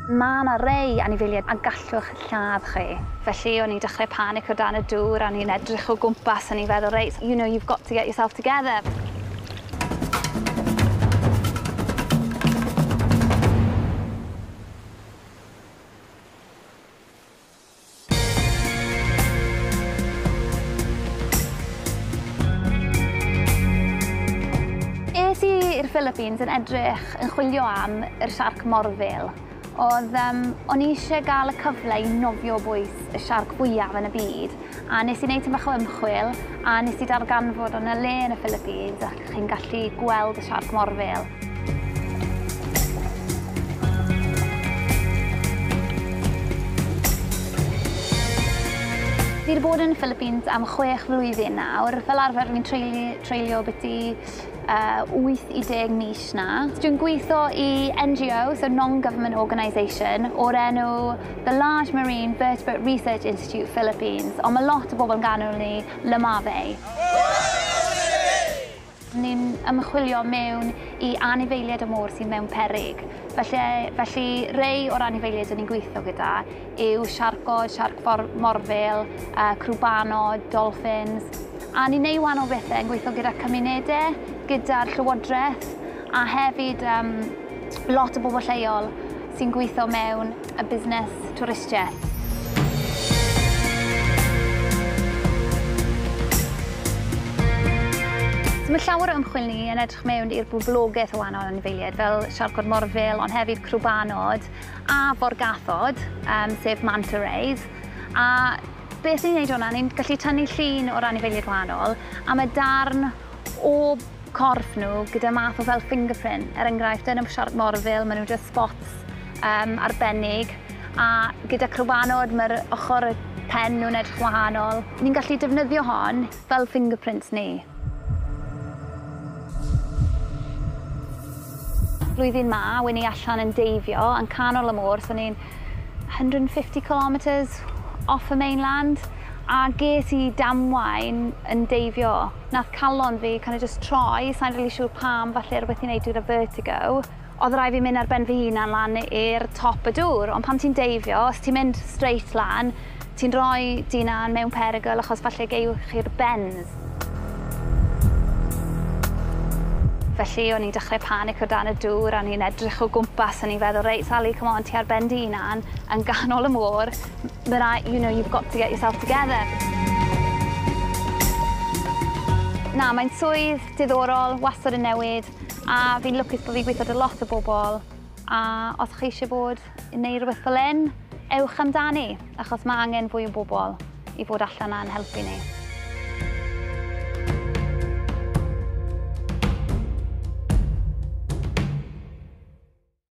Mae 'na rai anifeiliaid a gallwch lladd chi. Felly o'n i'n dechrau panico o dan y dŵr a o'n i'n edrych o gwmpas o'n i'n feddwl reit you know you've got to get yourself together. Es i i'r Philippines yn edrych yn chwilio am yr siarc morfil. Oedd, um, o'n i eisiau gael y cyfle i nofio bwys y siarc fwyaf yn y byd, a nes i wneud tyn bach o ymchwil, a nes i darganfod o'n y le yn y Philippines, Chi'n gallu gweld y siarc morfil. Fi wedi bod yn y Philippines am chwech flwyddyn nawr. Fel arfer fi'n treulio, treulio byti uh, 8 i 10 mis na. Dwi'n gweithio i NGO, so non-government organisation, o'r enw The Large Marine Vertebrate Research Institute Philippines, ond mae lot o bobl yn ganol ni Lamave. Ni'n ymchwilio mewn i anifeiliaid y môr sydd mewn peryg. Felly, felly rhai o'r anifeiliaid dyn ni'n gweithio gyda yw siarcod, siarc morfil, uh, crwbanod, dolffins, a ni'n neud wahanol bethau yn gweithio gyda cymunedau, gyda'r llywodraeth, a hefyd um, lot o bobl lleol sy'n gweithio mewn a busnes twristiaeth. So mae llawer o ymchwil ni yn edrych mewn i'r boblogaeth o wahanol anifeiliaid fel siarcod morfil, ond hefyd crwbanod a forgathod, um, sef manta rays. A beth ni'n neud hwnna, ni'n gallu tynnu llun o'r anifeiliaid wahanol a mae darn o corff nhw gyda math o fel fingerprint, er enghraifft yn y siarc morfil, maen nhw just spots um, arbennig, a gyda crwanod mae'r ochr y pen nhw'n edrych wahanol. Ni'n gallu defnyddio hon fel fingerprints ni. Blwyddyn ma, wen i allan yn deifio, yn canol y môr, so ni'n 150 kilometres off y mainland a ges i damwain yn deifio. Nath calon fi kind of just troi, sa'n really siŵr pam, falle rhywbeth i wneud gyda vertigo. Oedd rhaid fi mynd ar ben fy hunan lan i'r top y dŵr, ond pan ti'n deifio, os ti'n mynd straight lan, Ti'n rhoi dy unan mewn perygl achos falle gewch chi'r bends. Felly o'n i'n dechrau panic o dan y dŵr a o'n i'n edrych o gwmpas o'n i'n feddwl reit Sali come on ti ar ben dy unan yn ganol y môr ma' rai- you know you've got to get yourself together. Na mae'n swydd diddorol, wastad yn newid a fi'n lwcus bo' fi'n gwitho 'da lot o bobl a os chi isie bod neu rhywbeth fel hyn, ewch amdani, achos mae angen fwy o bobl i fod allan a'n helpu ni.